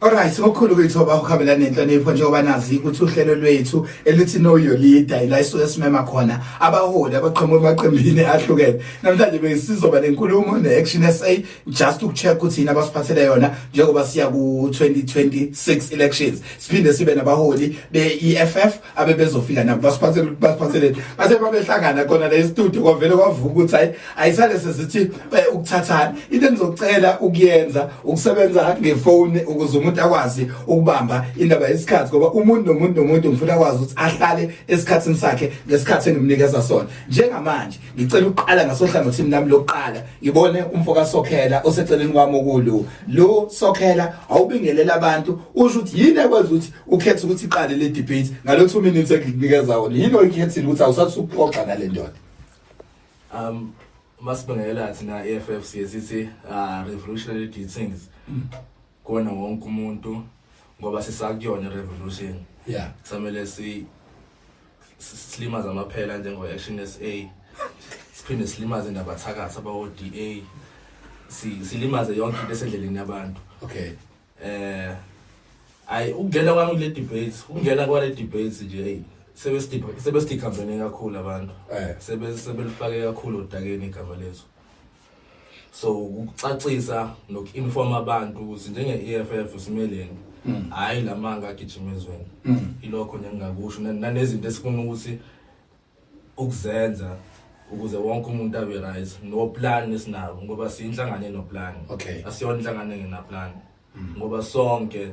Alright ngokukhulu kwethoba ukuhambela nenhlonipho njengoba nazi ukuthi uhlelo lwethu elithi Know Your Leader ila isuke simema khona abaholi abaqhamuka emaqembini ahlukene namhlanje besizoba nenkulumo ne-Action SA just ukucheck ukuthi yini abasiphathele yona njengoba siya ku-2026 elections siphinde sibe nabaholi be-EFF abebezofika nabo basiphathele ukuthi basiphathele base babehlangana khona la estudio kwavele kwavuka ukuthi hayi ayisale sesithi eh, ukuthathana into enizocela ukuyenza ukusebenza ngefone ukuze umuntu akwazi ukubamba indaba yesikhathi ngoba umuntu nomuntu nomuntu ngifuna akwazi ukuthi ahlale esikhathini sakhe ngesikhathi engimnikeza sona njengamanje ngicela ukuqala ngasohlangothini nami lokuqala ngibone umfo kasokhela oseceleni kwami okulu lo sokhela awubingelela abantu usho ukuthi yini ekwenza ukuthi ukhetha ukuthi iqale le debate ngalo 2 minutes engikunikeza wona yini oyikhethile ukuthi awusathi ukuxoxa ngale ndoda um masibangela thina EFF sithi uh, revolutionary things kona wonke umuntu ngoba sisakuyona revolution yeah kusamele si silimaza amaphela njengo action SA siphinde silimaze nabathakathi abawo DA silimaze yonke into esendleleni yabantu okay eh ayi ukungena kwami kule debate ukungena kwale debate nje hey sebesidikhambene kakhulu abantu eh. sebelifake kakhulu odakeni igama lethu so ukucacisa noku-informa abantu ukuthi njenge-e f f simeleni hmm. hhayi la manga agijima ezweni hmm. ilokho nje ngingakusho nanezinto esifuna ukuthi ukuzenza ukuze wonke umuntu abe right no plan esinabo ngoba siyinhlangano eno plan okay. asiyona inhlangano engena plan mm. ngoba sonke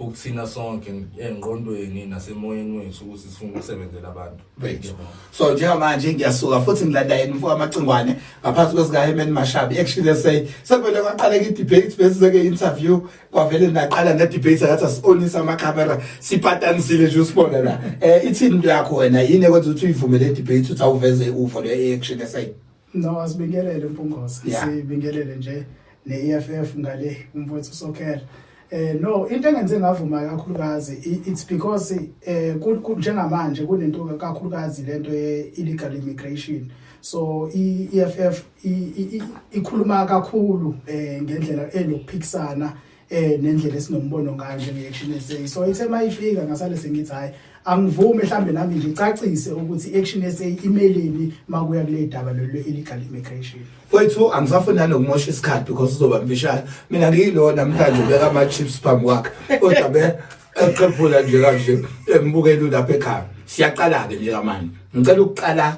ukuthina sonke engqondweni nasemoyeni wethu ukuthi sifuna ukusebenzela abantu bethu so njengamanje ngiyasuka futhi ngilanda yena mfo amacingwane ngaphansi kwesikaHemen Mashabi actually they say sekuvele kwaqaleka i-debate bese seke interview kwavele naqala nedebate ngathi asibonisa amakhamera sipatanisile nje usibona la eh ithini into yakho wena yini ekwenza ukuthi uyivumele debate uthi awuveze uvo le action esayini no asibingelele mpungoza yeah. sibingelele nje ne-EFF ngale umfowethu sokhela eh no into engenze ngavuma kakhulukazi it's because eh njengamanje kunento kakhulukazi lento ye illegal immigration so i-EFF ikhuluma kakhulu eh ngendlela enokuphikisana eh nendlela esinombono ngayo njengeaction SA so ithe mayifika ngasale sengithi hayi angivume mhlambe nami ngicacise ukuthi action SA imelini makuya kule daba lolu illegal immigration wethu angisafuni nalo kumosha isikhathi because uzoba mbishana mina ngiyilo namhlanje ubeka ama chips phambi kwakhe kodwa be eqephula nje kanje embukela lapha ekhaya siyaqala ke nje kamanje ngicela ukuqala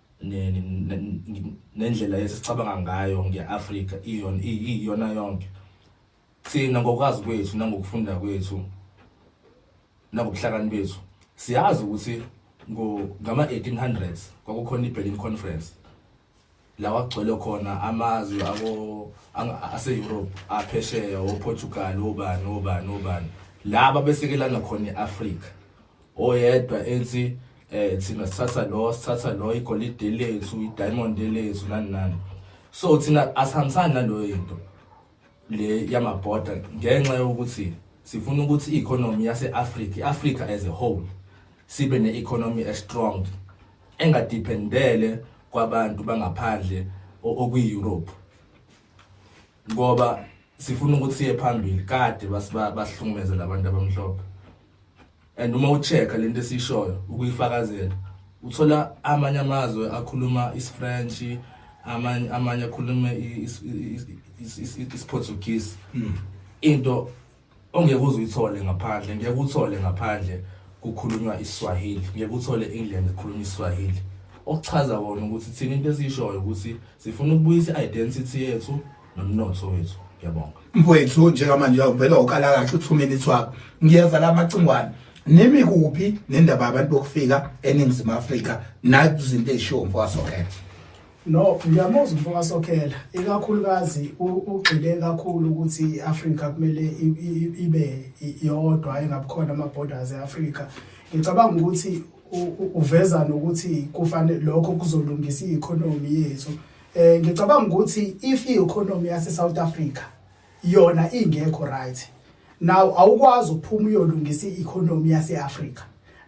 nendlela esicabanga ngayo nge-afrika iyona yonke thina ngokwazi kwethu nangokufunda kwethu nangobuhlakani bethu siyazi ukuthi ngama-1800s kwakukhona i-berlin conference la kwagcwele khona amazwe ase-europe aphesheya oportugal obani obani obani laba besekelana khona i-afrika oyedwa ethi eh thina sithatha lo sithatha lo igolide lethu idiamond lethu nani nani so thina asihambisani naloyo into le yamabhoda ngenxa yokuthi sifuna ukuthi i-economy yase-afrika i-africa as a whole sibe ne-economy estrong engadiphendele kwabantu bangaphandle okwi-europe ngoba sifuna ukuthi siye phambili kade bahlukumezela abantu abamhlophe and uma ucheck lento esishoyo ukuyifakazela uthola amanye amazwe akhuluma isifrench amanye amanye akhuluma isiportuguese hmm. into ongeke uze uyithole ngaphandle ngeke uthole ngaphandle kukhulunywa iswahili ngeke uthole england kukhulunywa iswahili okuchaza kona ukuthi thina into esiyishoyo ukuthi sifuna ukubuyisa i-identity yethu nomnotho wethu ngiyabonga mfowethu njengamanje uvele ukala kahle u-two minutes wakho ngiyeza la macingwane nimi kuphi nendaba yabantu bokufika eningizimu afrika nazinto ezishiwo mfokasokhela no ngiyamuza mfokasokhela ikakhulukazi ugxile kakhulu ukuthi i-afrika kumele ibe yodwa engabukhona ama-borders e-afrika ngicabanga ukuthi uveza nokuthi kufanele lokho kuzolungisa i-economy yethu Eh ngicabanga ukuthi if i-economy yase South Africa yona ingekho right now awukwazi ukuphuma uyolungisa i-economy yase Africa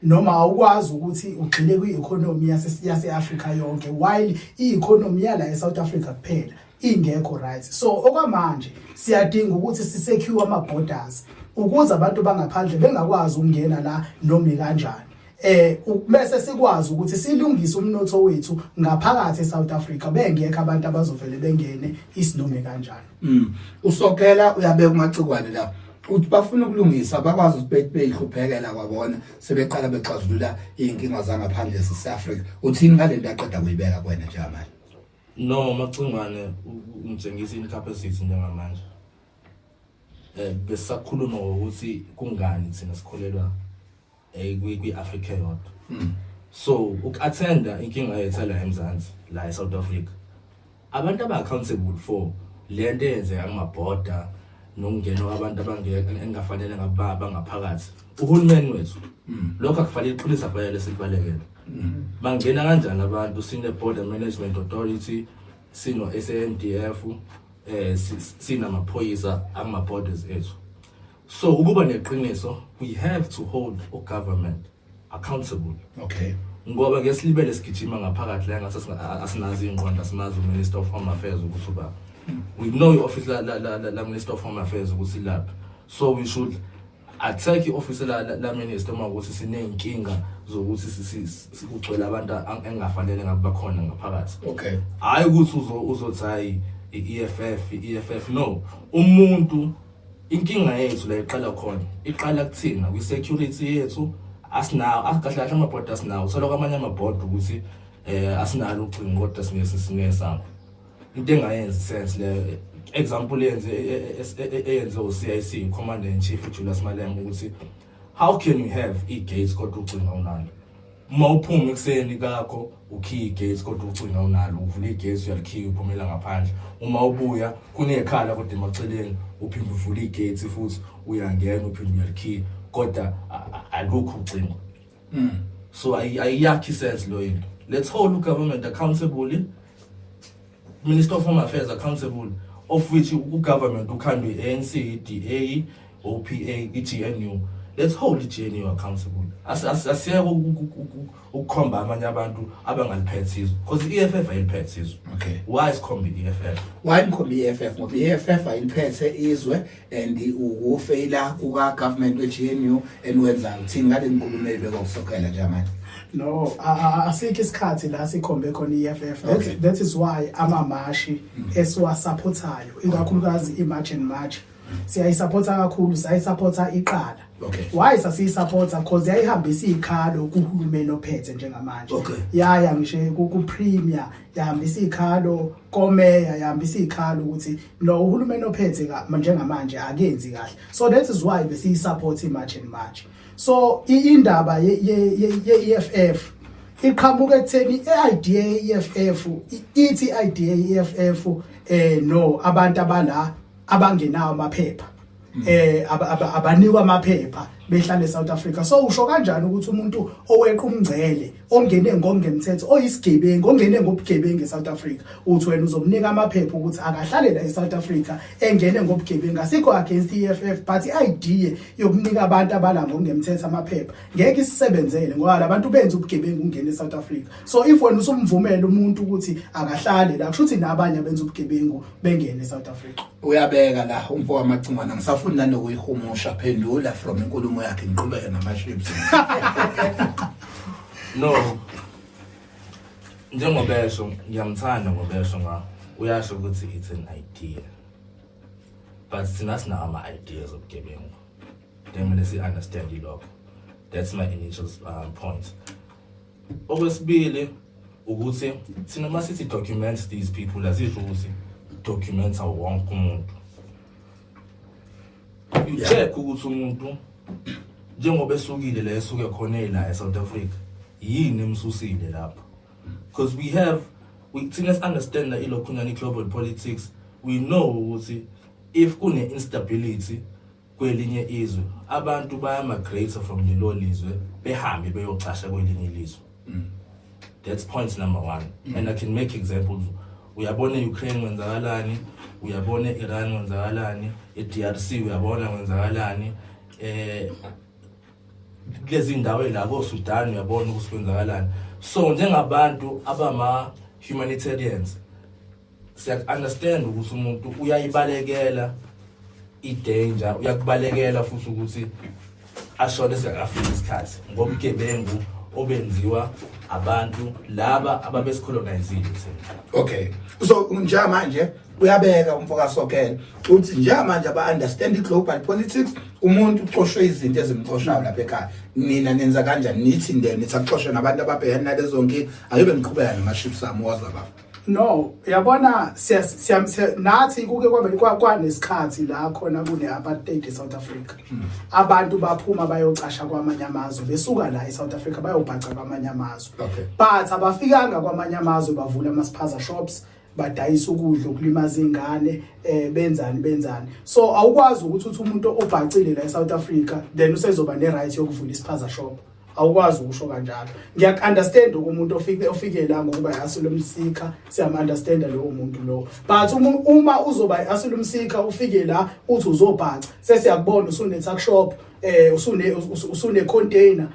noma awukwazi ukuthi ugxile kwi-economy yase yase Africa yonke while i-economy yala eSouth Africa kuphela ingekho right so okwamanje siyadinga ukuthi sisecure ama borders ukuze abantu bangaphandle bengakwazi ukungena la noma kanjani eh bese sikwazi ukuthi silungise umnotho wethu ngaphakathi eSouth Africa bengekho abantu abazovele bengene isinome kanjani mm usokela uyabeka umacikwane la uthi bafuna ukulungisa bakwazi ukuthi beyihluphekela kwabona sebeqala bexazulula inkinga zangaphandle eSouth Africa uthini ngalento aqeda kuyibeka kwena njengamanje no macingwane umtshengisa incapacity njengamanje eh besakhuluma ukuthi kungani thina sikholelwa eh, kwi-afrika yodwa hmm. so uku-athenda inkinga yethu la emzansi la e-south africa abantu aba-accountable for le nto eyenzeka kumabhoda nokungena kwabantu engingafanele ngababa ngaphakathi uhulumeni wethu hmm. lokho akufanele iqiniso akufanele sikubalekele hmm. bangena kanjani abantu sine-border management authority sino-sandf um eh, sinamaphoyisa angama-borders ethu so ukuba neqiniso we have to hold o government accountable okay ngoba ke silibele sigijima ngaphakathi la ngathi asinazi ingqondo asimazi uminister of home affairs ukuthi uba we know i-office la, la, la, la, la minister of home affairs ukuthi lapha so we should attack i-office la, la, la minister uma ukuthi siney'nkinga zokuthi sikugcwele abantu engafanele ngabe bakhona ngaphakathi okay hhayi ukuthi uzothi hhayi i-eff i-eff no umuntu Inkinga yethu la iqala khona, iqala kuthina kwi security yethu asinawo akahle kahle amabhodi asinawo uthola kwamanye amabhodi ukuthi eh asinalo ucingo kodwa singesi singesakho into engayenzi sense le example yenze eyenze uCIC commander in chief uJulius Malema ukuthi how can you have i-gates kodwa ucinga unalo uma uphuma ekuseni kakho ukhiya i-gates kodwa ucinga unalo uvula i-gates uyalikhiya uphumela ngaphandle uma ubuya kunekhala kodwa emaceleni uphinde uvula i-gates futhi uyangena uphinde uyalikhiya kodwa alukho ucingo mm. so ayiyakhi sense loyo into let's hold ugovernment accountable Minister of Home Affairs accountable of which ugovernment ukhandwe ANC, DA, OPA, iGNU. Let's hold iGNU accountable. Asiyeke ukukhomba amanye abantu abangaliphethe sizwe because i-EFF ayiliphethe sizwe. Okay. Why sikhombe i-EFF? Why ngikhombe i-EFF? Ngoba i-EFF ayiliphethe izwe and ukufeyila kuka government we GNU eniwenza uthini ngale nkulumo ebekwa kusokhela nje manje no asikho isikhathi la sikhombe khona iFF that, okay. that is why amamashi mm. esiwasaphothayo ikakhulukazi imarch and march siyayisapotha kakhulu sayisapotha iqala okay. why sasiyisapotha because yayihambisa izikhalo kuhulumeni ophethe njengamanje okay. yaya ngisho ku-premier yahambisa ikhalo komeya yahambisa ikhalo ukuthi no uhulumeni ophethe njengamanje akenzi kahle so that is why besiyi support i march and march so indaba ye EFF iqhamuka ekutheni i-idea ye-EFF ithi i-idea ye-EFF eh no abantu abala abangenawo amaphepha mm. eh abanikwa amaphepha behlala eSouth Africa so usho kanjani ukuthi umuntu oweqa umngcele ongene ngokungemthetho oyisigebengu ongene ngobugebengu eSouth Africa uthi wena uzomnika amaphepha ukuthi akahlale la eSouth Africa engene ngobugebengu asikho against EFF but idea yokunika abantu abala ngokungemthetho amaphepha ngeke isisebenzele ngoba labantu benza ubugebengu ungene eSouth Africa so if wena usumvumela umuntu ukuthi akahlale la kusho ukuthi nabanye abenza ubugebengu bengene eSouth Africa uyabeka la umfo wamacingwana ngisafuni nanokuyihumusha phendula from inkulumo yakhe ngiqhubeke namaships no njengobesho ngiyamthanda ngobesho nga uyasho ukuthi it's an idea but thina sinawo ama-ideas obugebengu then kumele si-understand ilokho that's my initial uh, point okwesibili ukuthi thina uma sithi documents these people azisho ukuthi documents awo wonke umuntu you check ukuthi umuntu njengoba esukile la esuke khona ela eSouth Africa yini emsusile lapho because we have we thina understand that ilokhunyana global politics we know ukuthi if kune instability kwelinye izwe abantu bayamagrate from lelo lizwe behambe beyocasha kwelinye ilizwe mm. that's point number one mm. and i can make examples uyabona e-ukraine kwenzakalani uyabona e-iran kwenzakalani e-d r c uyabona kwenzakalani eh kulezi ndawo la kosudan uyabona ukuthi kwenzakalani so njengabantu abama-humanitarians siyaku-understand ukuthi umuntu uyayibalekela i-danger uyakubalekela futhi ukuthi ashone singakafiki isikhathi ngobugebengu obenziwa abantu laba ababesicolonizile thina okay so njamanje uyabeka umfokasokela uthi njamanje aba-understand i-global politics umuntu ucoshwe izinto ezimcoshayo lapha ekhaya nina nenza kanjani nithi nde nithi akucoshe nabantu ababhekene nalezo nkinga angibe ngiqhubeka nama-ships ami wazababa no yabona nathi kuke kwanesikhathi la khona kune-apartheid e-south africa hmm. abantu baphuma bayocasha kwamanye amazwe besuka la e-south africa bayobhaca kwamanye amazwe but abafikanga kwamanye amazwe bavula ama-spaza shops badayisa ukudla ukulimaza ingane eh benzani benzani so awukwazi ukuthi uthi umuntu obhacile la e-south africa then usezoba ne-right yokuvula isiphaza shop awukwazi ukusho kanjalo ngiyakunderstand umuntu ofike ofike la ngokuba i-asylum seeker siyamunderstanda lowo muntu lowo but uma uzoba i-asylum seeker ufike la uthi uzobhaca sesiyakubona usune-tuck shop eh usune usune container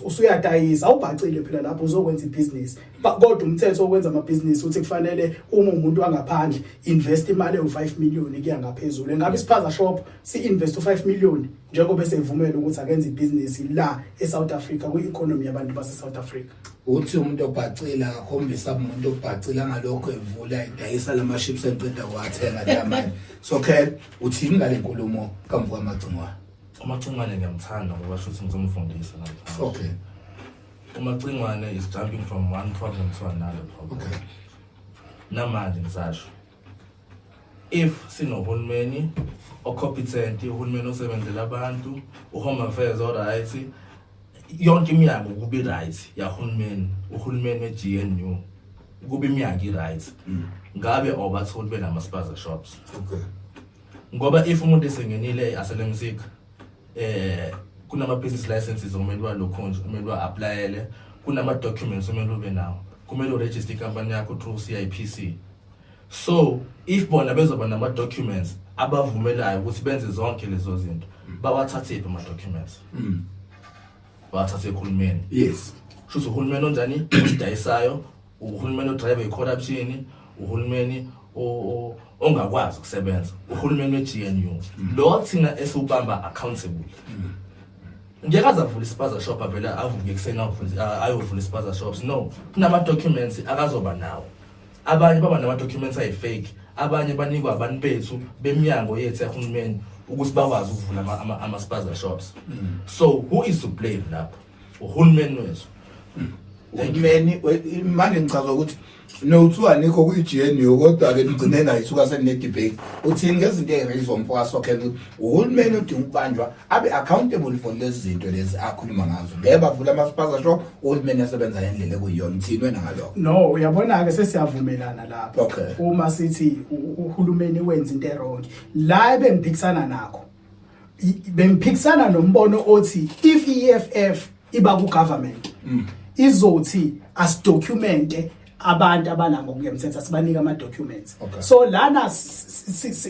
usuyadayisa awubhacile phela lapho uzokwenza ibusiness kodwa umthetho okwenza ama business uthi kufanele uma umuntu angaphandle invest imali ewu 5 million kuya ngaphezulu ngabe isiphaza shop si invest u 5 million njengoba esevumela ukuthi akenze ibhizinisi la eSouth Africa kwi-economy yabantu baseSouth Africa uthi umuntu obhacile akakhombisa umuntu obhacile angalokho evula idayisa lama chips eqeda kwathenga lamanje so khel uthini ngale nkulumo kamvuka amagcingwane umacingwane ngiyamthanda ngoba shuthi ngizomfundisa namhlanje okay umacingwane is jumping from one problem to another problem okay namanje ngisasho if sinohulumeni ocompetent uhulumeni osebenzela abantu uhome affairs oright yonke iminyango kubi right yahulumeni uhulumeni we-GNU kuba iminyango i-right mm. ngabe awubatholi benama-spaza shops okay ngoba if umuntu esengenile aselemsika eh kunama-business licenses okumele balokhonje kumele ba-aplayele kunama-documents okumele ube nawo kumele uregister ikampani yakho through c i p c so if bona bezoba nama documents abavumelayo ukuthi benze zonke lezo zinto bawathathephi ama documents mm. bawathathe ekhulumeni yes shuthi uhulumeni onjani odayisayo uhulumeni odrive i-corruption uhulumeni ongakwazi ukusebenza uhulumeni we-gnu mm. lo thina esiwubamba accountable mm. ngeke aze avule ispaza shop avele avuke ekuseni ayovula ispaza shops no kunama-documents akazoba nawo abanye baba nama-documents ayi-fake abanye banikwa abantu bethu bemnyango yethu yahulumeni ukuthi bakwazi ukuvula ama- ama- ama-spaza shops so who is to blame lapho uhulumeni wethu uhulumeni we- manje ngichaza ukuthi nokuthiwa nikho kuyi-gnu kodwa-ke nigcine nayo isuka seninedebate uthini ngezinto eyirayizwa umfokasokhela ukuthi uhulumeni odinga ukubanjwa abe accountable for lezi zinto lezi akhuluma ngazo ngeke bavula ama-spaza shop uhulumeni asebenza ngendlela ekuyiyona uthini wena ngalokho no uyabona-ke sesiyavumelana lapho okay. uma sithi uhulumeni wenza into erongi la ebengiphikisana nakho bengiphikisana nombono othi if i-eff iba ku-government mm. izothi asidocumente abantu abana ngokungemthetho asibanike ama documents okay. so lana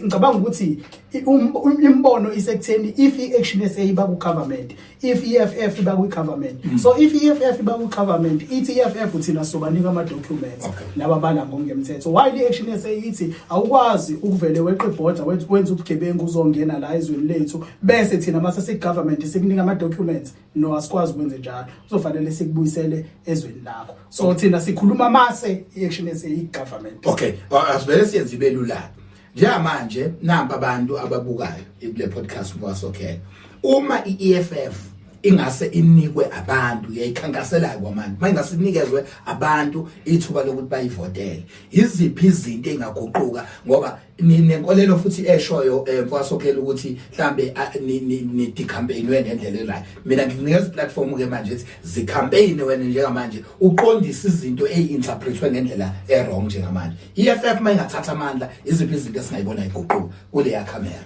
ngicabanga ukuthi um, um, imbono isekutheni if i action SA iba ku government if EFF iba ku government mm. so if EFF iba ku government ithi EFF uthina sobanika ama documents okay. laba bana ngokungemthetho why i action SA ithi awukwazi ukuvele weqe border wenza ubugebengu uzongena la ezweni lethu bese thina mase si government sikunika ama documents no asikwazi ukwenze njalo kuzofanele sikubuyisele ezweni lakho so thina sikhuluma mase i-action esiyi-government okay asivele siyenze ibe lula njengamanje nampa abantu ababukayo kule podcast mwasokhela uma i-EFF ingase inikwe abantu yayikhankaselayo kwamanje manje ngasinikezwe abantu ithuba lokuthi bayivotele iziphi izinto engaguquka ngoba ninenkolelo futhi eshoyo eh, mfasokhela ukuthi mhlambe ah, nidicampaignwe ngendlela elayo mina ngikunikeza iplatform ke manje ethi zicampaign wena njengamanje uqondisa izinto eyi-interpretwe ngendlela e-wrong njengamanje i-f f uma ingathatha amandla iziphi izinto esingayibona iguquka kuleya camera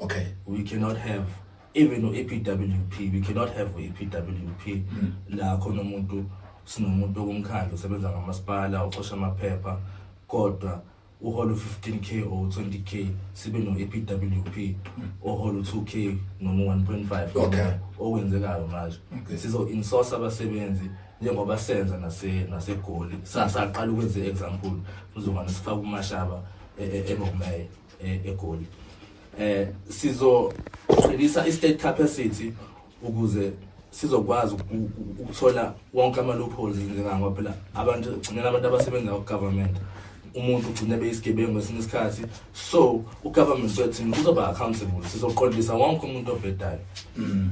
okay we cannot have even u-EPWP we cannot have u-EPWP mm. la khona umuntu sinomuntu okumkhandla usebenza ngamasipala ucosha amaphepha kodwa uhola u-15k or 20k sibe no-epwp ohola u-2k noma u-1.5 okay. okwenzekayo manje okay. sizo-insource abasebenzi njengoba senza nasegoli nase sasaqala ukwenza i-example uzongane sifake umashaba e-, e-, ebomeye e eh, egoli eh sizoqinisa i-state capacity ukuze sizokwazi ukuthola wonke ama-loopholes njengangoba phela abantu gcinela abantu abasebenza ku-government umuntu ugcine beyisigebengu ngesinye isikhathi so u-government wethini uzoba-accountable sizoqondisa wonke umuntu obhedayo mm.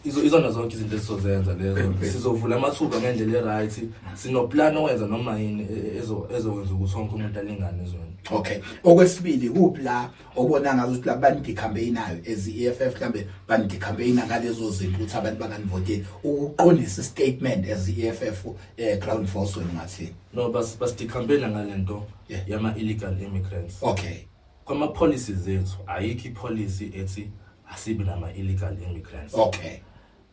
izo izona zonke izinto esizozenza lezo sizovula amathuba ngendlela e-right sinoplan owenza noma yini e- ezo- ezokwenza ukuthi wonke umuntu alingane ezweni okay okwesibili kuphi la obona ngazo ukuthi abantu ndicampaignayo as i-eff mhlawumbe bandicampaigna ngalezo zinto ukuthi abantu banganivoteli ukuqondisa istatement as i-eff um ground force wena ungathini no bas- basidicampaigna ngale nto Yeah. yama-illegal immigrants okay Kwama policies ethu ayikho i policy ethi asibi nama illegal immigrants. Okay.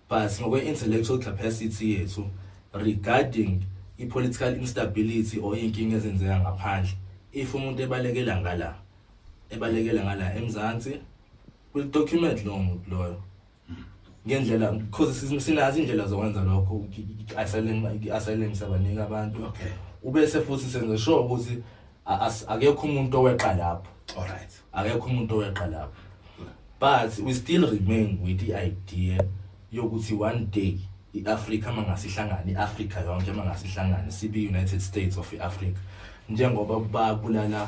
But ngokwe intellectual capacity yethu regarding i political instability or inkinga ezenzeka ngaphandle if umuntu ebalekela ngala ebalekela ngala eMzansi will document lo muntu loyo ngendlela because sinazi indlela zokwenza lokho i-asylum sabanika abantu okay ubese futhi senze sure ukuthi akekho umuntu oweqa lapho alright akekho umuntu oweqa lapho but we still remain with the idea yokuthi one day i-afrika mangasihlangane i-afrika yonke mangasihlangane sibe-united states of i-afrika njengoba babulala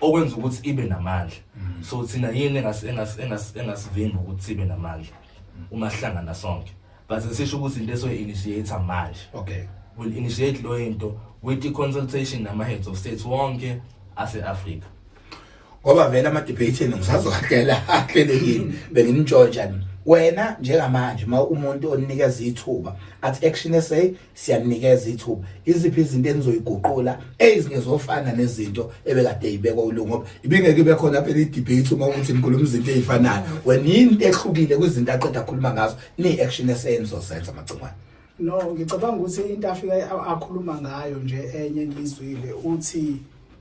okwenza ukuthi ibe namandla mm. so thina yini engasivimba ukuthi sibe namandla mm. uma sihlangana sonke but sisho ukuthi into esoyi-initiate manje okay will initiate lo into with i-consultation nama-heads of states wonke ase-afrika ngoba vele ama-debate enu ngisazowahlela ahlelekile benginitshontshani wena njengamanje uma umuntu oninikeza ithuba athi action sa siyanikeza ithuba iziphi izinto enizoyiguqula ezingezofana nezinto ebekade ibekwa uLungu ngoba ibingeke ibe khona phela i-debate uma ukuthi nikhuluma izinto ezifanayo wena yini into ehlukile kwizinto aqeda akhuluma ngazo ni-action esenizosenza amagcingwane no ngicabanga ukuthi into afike akhuluma ngayo nje enye ngizwile uthi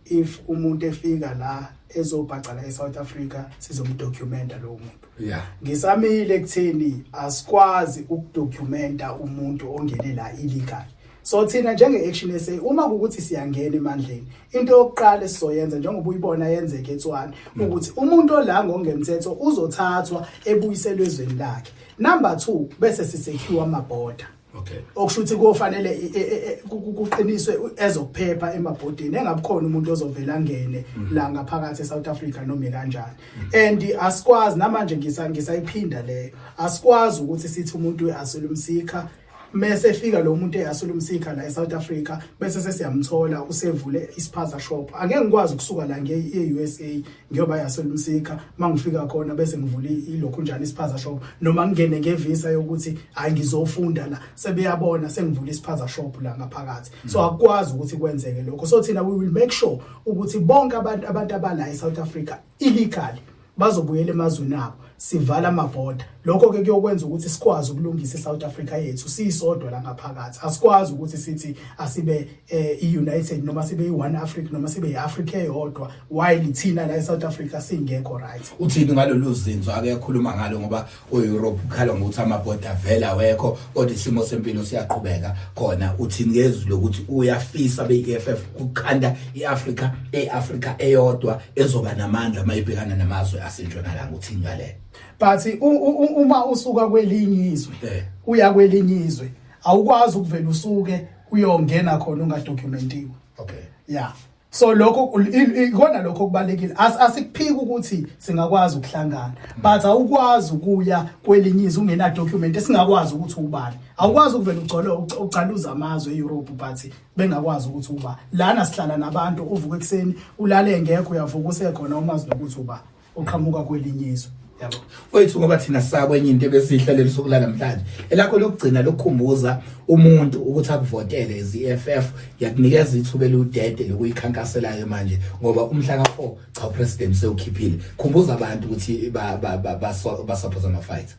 if umuntu efika la ezobhaca la eSouth Africa sizomdocumenta lowo muntu yeah ngisamile ekutheni asikwazi ukudocumenta umuntu ongene la illegal so thina njenge action SA uma ukuthi siyangena emandleni into yokuqala esizoyenza njengoba uyibona yenzeke eTswana mm. ukuthi umuntu ola ngongemthetho uzothathwa ebuyiselwe ezweni lakhe number 2 bese sisecure amaborder Okay. Okusho ukuthi kofanele e, e, e, kuqiniswe ezokuphepha emabhodini engabukhona umuntu ozovela ngene mhm. la ngaphakathi eSouth Africa noma kanjani. Mhm. And asikwazi namanje ngisa ngisayiphinda leyo. Asikwazi ukuthi sithi umuntu uyasula umsikha mese efika lo muntu eyasula umsikha la eSouth Africa bese sesiyamthola usevule isiphaza shop. Angeke ngikwazi ukusuka la nge-USA ngiyoba yaselumsika mangifika khona bese ngivula ilokhu njani isiphaza shop noma ngingene ngevisa yokuthi hayi ngizofunda la sebeyabona sengivula isiphaza shop la ngaphakathi so mm. akwazi ukuthi kwenzeke lokho so thina we will make sure ukuthi bonke abantu abantu abala eSouth Africa illegal bazobuyela emazweni abo sivala amabhoda lokho ke kuyokwenza ukuthi sikwazi ukulungisa iSouth Africa yethu siyisodwa la ngaphakathi asikwazi ukuthi sithi asibe eh iUnited noma sibe iOne Africa noma sibe iAfrica eyodwa while thina la eSouth Africa singekho right uthini ngalolu zinzo akekhuluma ngalo ngoba uEurope ukhala ngokuthi amaboda vela wekho kodwa isimo sempilo siyaqhubeka khona uthi ngezwi lokuthi uyafisa beEFF ukukhanda iAfrica eAfrica eyodwa ezoba namandla mayibhekana namazwe asentshonalanga uthi ngale but uma usuka kwelinye izwe eh. uya kwelinye izwe awukwazi ukuvela usuke uyongena khona ungadokumentiwe okay yeah so lokho ikona lokho kubalekile asikuphiki ukuthi singakwazi ukuhlangana but awukwazi ukuya kwelinye izwe ungena document esingakwazi ukuthi ubani awukwazi ukuvela ugcole ucaluza amazwe eEurope but bengakwazi ukuthi uba lana sihlala nabantu uvuka ekseni ulale ngekho uyavuka usekhona umazi nokuthi uba uqhamuka kwelinye izwe yabo wethu ngoba thina sakwe enye into ebesihlalele sokulala namhlanje elakho lokugcina lokukhumbuza umuntu ukuthi akuvotele iZFF yakunikeza ithuba eludede lokuyikhankaselayo manje ngoba umhla ka4 cha upresident sewukhiphile khumbuza abantu ukuthi ba ba ba, ba, ba, ba support ama fight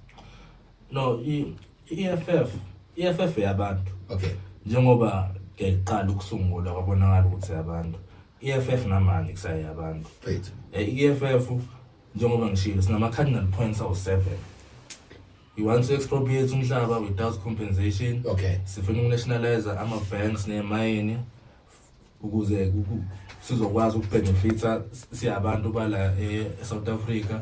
no i-EFF i-EFF yabantu okay njengoba ngiqala ukusungula kwabonakala ukuthi abantu i-EFF namanje kusaye abantu i-EFF eh, e njengoba ngishilo sinama-cardinal points awu-seven you want to expropriate umhlaba without compensation okay sifuna uku-nationalize ama-banks nemayini ukuze sizokwazi ukubenefitha siyabantu bala e-south africa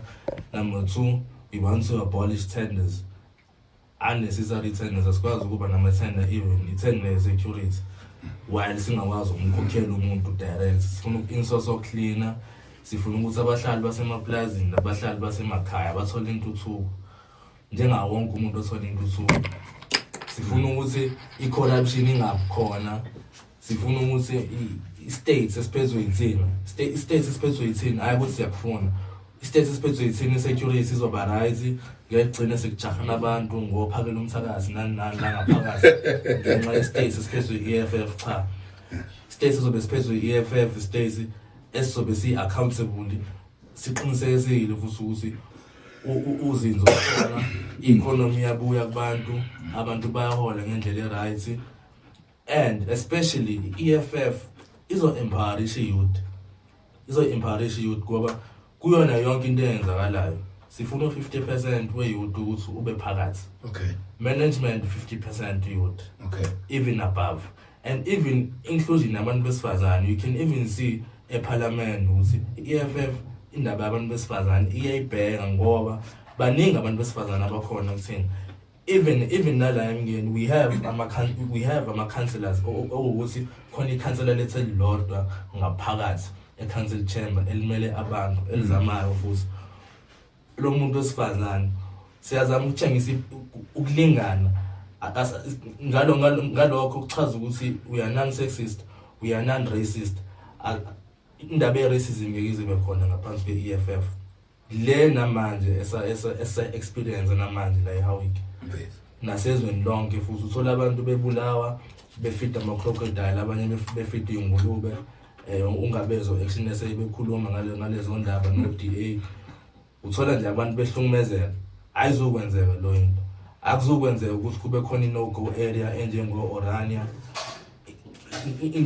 number two we want to abolish tenders unnecessary tenders asikwazi ukuba nama-tender even i-tender ye-security while singakwazi ukumkhokhela umuntu direct sifuna insoso cleaner sifuna ukuthi abahlali basemapulazini nabahlali basemakhaya bathole intuthuko njengawo wonke umuntu othola intuthuko sifuna ukuthi i-corruption ingabikhona sifuna ukuthi i-states esiphezwe yithina i-states esiphezwe yithina hhayi ukuthi siyakufuna i-states esiphezwe yithina i-security izoba right ngeke kugcine sekujahana abantu ngophakela umthakazi nani nani nangaphakathi ngenxa ye-states esiphezwe i-eff cha i-states sizobe siphezwe i-eff i-states esizobe siyi-accountable siqinisekisile futhi ukuthi uzinzo khona i-economy yabuya kubantu abantu bayahola ngendlela e-right and especially i-EFF izo-empowerish youth izo-empowerish youth ngoba kuyona yonke into eyenzakalayo sifuna u-50 percent we-youth ukuthi ube phakathi okay management 50 percent youth okay even above and even inclusion yabantu besifazane you can even see eParliament ukuthi iEFF indaba yabantu besifazane iyayibheka ngoba baningi abantu besifazane abakhona kuthina even even nala emngeni we have ama we have ama councillors okuwukuthi khona ikhansela lethe lilodwa ngaphakathi e council chamber elimele abantu elizamayo futhi lo muntu wesifazane siyazama ukutshengisa ukulingana ngalo ngalokho kuchaza ukuthi we are non sexist we are non racist indaba ye racism ngeke ibe khona ngaphansi kwe EFF le namanje esa esa experience namanje la eHowick nasezweni lonke futhi uthola abantu bebulawa befida ama crocodile abanye befida ingulube eh ungabezo action eseyibekhuluma ngale ngalezo ndaba no DA uthola nje abantu behlungumezeka ayizokwenzeka lo into akuzokwenzeka ukuthi kube khona i-no go area enjengo-orania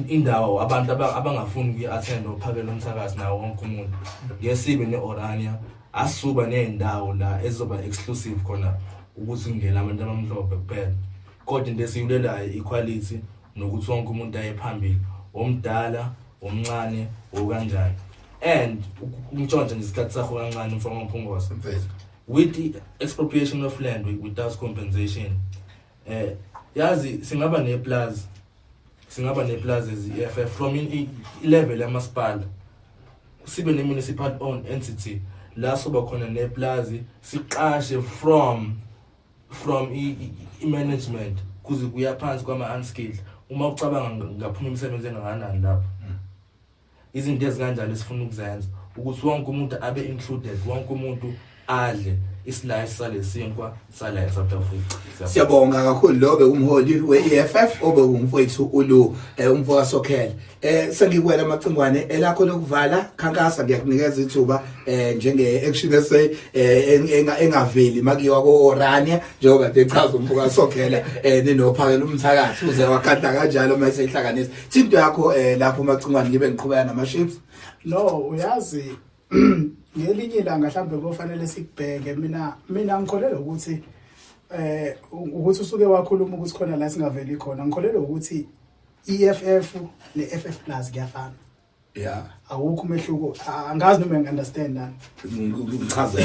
indawo abantu abangafuni kuyi-attend ophakela umthakazi nawo wonke umuntu ngesibe ne-orania asuba ney'ndawo la ezizoba exclusive khona ukuthi kungena abantu abamhlophe kuphela Kodwa into esiyulelayo ikhwalithi nokuthi wonke umuntu aye phambili omdala omncane okanjani and umtshontshe nje isikhathi sakho kancane mfana omphungosa with the expropriation of land without compensation eh yazi singaba neplaza singaba neplaza eziFF eh, from in level yamasipala sibe ne municipal owned entity la soba khona neplazi siqashe from from i-management kuze kuya phansi kwama-unskilled uma ucabanga ngaphuma imisebenzi engakanani lapho izinto ezikanjalo esifuna ukuzenza ukuthi wonke umuntu abe included wonke umuntu adle isilayi salesinkwa sala eSouth Africa siyabonga kakhulu lo bekumholi we-EFF obewumfowethu ulu eh, umfoka Sokhele eh sengikwela macingwane elakho lokuvala khankasa ngiyakunikeza ithuba eh njenge action SA eh, engaveli makiwa ko Orania njengoba ngichaza umbuka sokhela eh ninophakela umthakathi uze wakhatha kanjalo uma esehlanganisa thinto yakho eh lapho macingwane ngibe ngiqhubeka nama shapes no uyazi ngelinye ilanga mhlambe kofanele sikubheke mina mina ngikholelwa ukuthi eh ukuthi usuke wakhuluma ukuthi khona la singaveli khona ngikholelwa ukuthi EFF ne FF Plus kuyafana yeah awukho umehluko angazi noma ngiunderstand nani ngichaza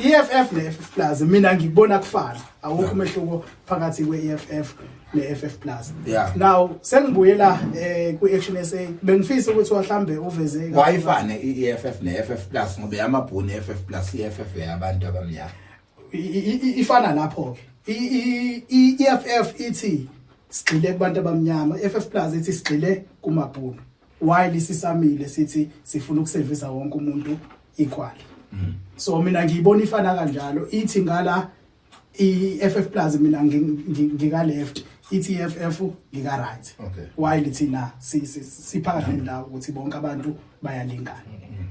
EFF ne FF Plus mina ngikubona kufana awukho umehluko phakathi kwe EFF ne FF Plus yeah now sengibuyela eh ku Action SA bengifisa ukuthi wahlambe uveze wayifane i EFF ne FF Plus ngoba yamabhuni FF Plus EFF yabantu abamnyama ifana lapho ke i-EFF ithi sigxile kubantu abamnyama i-EFF plus ithi sigxile kumabhunu while isisamile sithi sifuna ukusevisa wonke umuntu equal mm. so mina ngiyibona ifana kanjalo ithi ngala i-EFF plus mina ngika left ithi EFF ngika right okay. while thina siphakathi nendawo ukuthi bonke abantu bayalingana mm.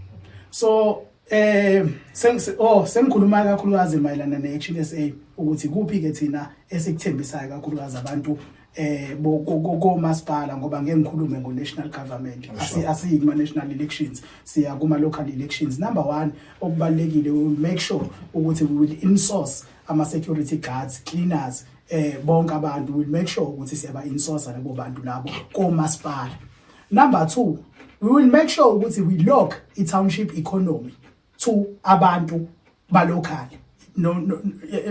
so Eh sengise oh sengikhuluma kakhulukazi mayelana neHNSA ukuthi kuphi ke thina esikuthembisayo kakhulukazi abantu eh komasipala ngoba ngeke ngikhulume ngo national government asi asiyi kuma national elections siya kuma local elections number 1 okubalekile we make sure ukuthi we will insource ama security guards cleaners eh bonke abantu we will make sure ukuthi siyaba insource labo bantu labo komasipala Number 2, we will make sure ukuthi we lock i township economy to abantu ba local. No, no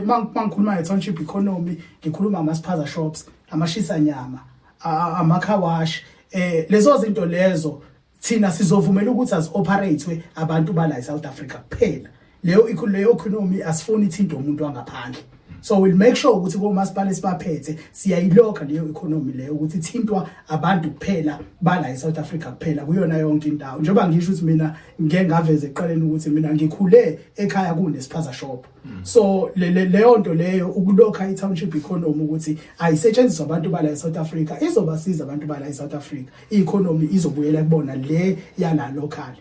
mangikhuluma nge township economy, ngikhuluma ama spaza shops, amashisa nyama, ama car wash, eh lezo zinto lezo thina sizovumela ukuthi azioperate abantu bala eSouth Africa kuphela leyo leyo economy asifuni ithinto umuntu wangaphandle so we'll make sure ukuthi komasipala esibaphethe siyayilokha leyo economy leyo ukuthi ithintwa abantu kuphela bala eSouth Africa kuphela kuyona yonke indawo njengoba ngisho ukuthi mina ngeke ngaveze eqaleni ukuthi mina ngikhule ekhaya kunesiphaza shop so leyo nto leyo ukulokha i-township economy ukuthi ayisetshenziswa abantu bala eSouth Africa izobasiza abantu bala eSouth Africa i-economy izobuyela kubona le yala local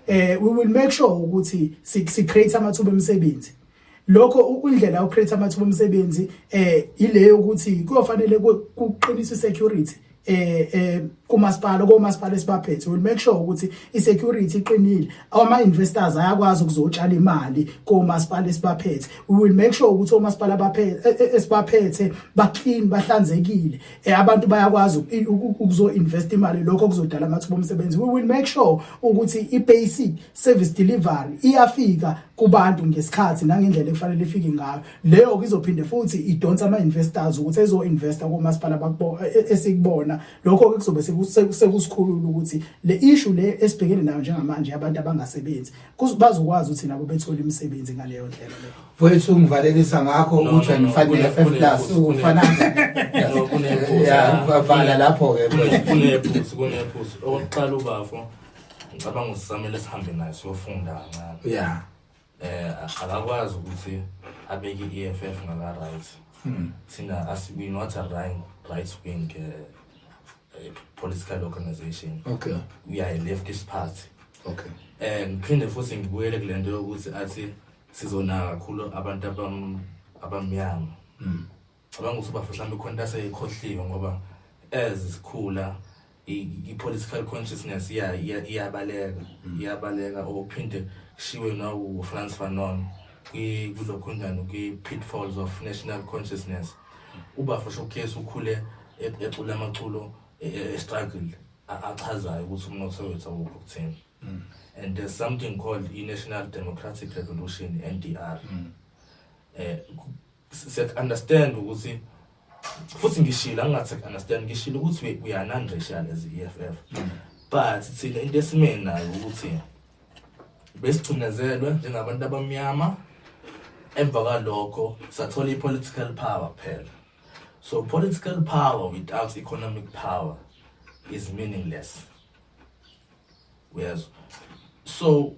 eh we will make sure ukuthi si create amathuba emisebenzi lokho ukundlela u create amathuba emisebenzi eh ileyo ukuthi kuyofanele kuqinisa security eh eh kumasipala komasipala esibaphethe will make sure ukuthi isecurity iqinile ama investors ayakwazi ukuzotshala imali komasipala esibaphethe we will make sure ukuthi omasipala abaphethe e, e, esibaphethe ba clean bahlanzekile Eh, abantu bayakwazi ukuzo-invest imali lokho kuzodala amathuba omsebenzi we will make sure ukuthi i-basic service delivery iyafika kubantu ngesikhathi nangendlela ekufanele ifike ngayo leyo izophinde futhi idonsa ama-investors ukuthi ezo-investa komasipala e-, e-, esikubona lokho-ke kuzobe sekusikhulula ukuthi le ishu le esibhekene nayo njengamanje abantu abangasebenzi bazokwazi ukuthi nabo bethole imisebenzi ngaleyo ndlela leyo Mfowethu ungivalelisa ngakho No, ukuthi no, no, angifanele kune- FF kune- plus kune- ufana No, kunephuzu. ya uvala lapho ke mfowethu. kunephuzu kunephuzu okokuqala ubafo ngicabanga ukuthi samele sihambe naye siyofunda kancane ya eh akakwazi ukuthi abeke i-EFF ngaka right Hmm. thina as we not a right right wing uh, uh, political organization okay we are a leftist party okay eh ngiphinde futhi ngibuyele kule nto yokuthi athi sizonaka kakhulu abantu abam- abamnyama Mm. cabanga ukuthi ubafo mhlawumbe khona into aseyikhohliwe ngoba as sikhula i- i-political consciousness iya- iya- iyabaleka iyabaleka or uphinde kushiwe nawufrance fanon kwi- kulokhunjani kwi-pitfalls of national consciousness ubafo showcase ukhule e- ecula amaculo e- e- estruggle a- achazayo ukuthi umnotho wethu awukho kuthini mm. and there's something called i-national democratic revolution ndr mm. eh siyakunderstand ukuthi futhi ngishilo angingathi understand ngishilo ukuthi we are non racial as EFF mm. but thina into esimeni nayo ukuthi besigcinezelwe njengabantu abamnyama emva kwalokho sathola i-political power kuphela so political power without economic power is meaningless uyezwa so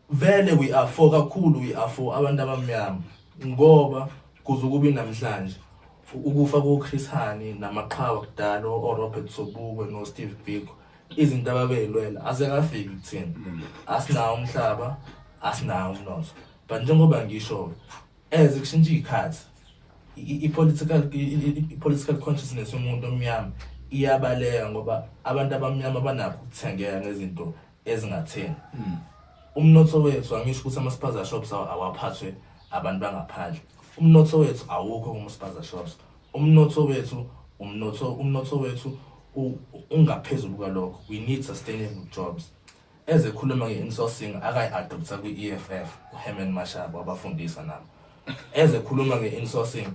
vele we are for kakhulu we are for abantu abamnyama ngoba kuze ukubi namhlanje ukufa koChris Hani namaqhawa kudala oRobert Sobukwe noSteve Biko izinto ababeyilwela asekafiki kuthina asinawo umhlaba asinawo umnotho but njengoba ngisho As kushintsha iy'khathi i-political i-political consciousness yomuntu omnyama iyabaleka ngoba abantu abamnyama banakho ukuthengeka ngezinto ezingatheni hmm. umnotho wethu angisho ukuthi ama-spaza shops awaphathwe abantu bangaphandle umnotho wethu awukho kuma-spaza shops umnotho wethu umnotho umnotho wethu ungaphezulu kwalokho we need sustainable jobs Ezekhuluma nge-insourcing akayi-adoptha kwi-EFF uHerman Mashaba wabafundisa nabo. Ezekhuluma nge-insourcing,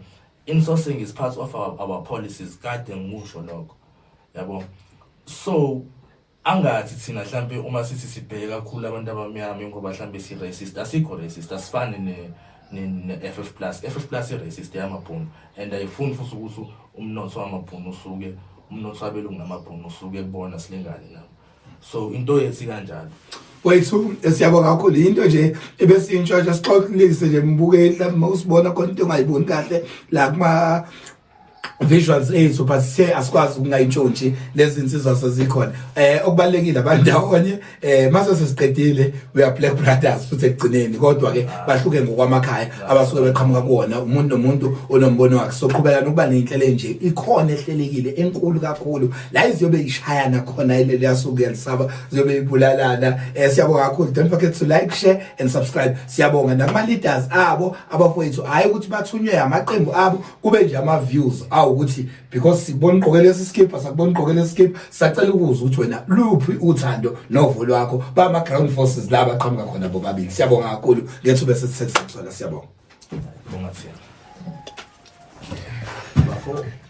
insourcing is part of our, our policies kade ngikusho lokho. Yabo. So angathi thina mhlambe uma sithi sibheke kakhulu abantu abamnyama ngoba mhlambe si racist asikho racist asifani ne ne-FF plus FF plus i-racist yamabhunu and ayifuni futhi ukuthi umnotho wamabhunu usuke umnotho wabelungu namabhunu usuke kubona silingane nabo so into yethi kanjalo wethu siyabonga kakhulu into nje ebesiyintshotsha sixoxilise nje mbukeli lapho usibona khona into ongayiboni kahle la kuma visuals ethu but sithe asikwazi ukungayintshontshe lezi nsizwa sezikhona eh okubalekile abandawonye eh mase sesiqedile we are black brothers futhi ekugcineni kodwa ke bahluke ngokwamakhaya abasuke beqhamuka kuwona umuntu nomuntu onombono wakhe soqhubeka nokuba nenhlelo enje ikhona ehlelekile enkulu kakhulu la iziyobe ishayana khona ile liyasuka yalisaba ziyobe ibulalana eh siyabonga kakhulu don't forget to like share and subscribe siyabonga nakuma leaders abo abafowethu hayi ukuthi bathunywe amaqembu abo kube nje ama views awu ukuthi because sibona ugqoke lesi skip asakubona ugqoke lesi skip sacela ukuzwa ukuthi wena luphi uthando novo lwakho ba ma ground forces la baqhamuka khona bobabili siyabonga kakhulu ngethu bese sithethe sona siyabonga bonga siyabonga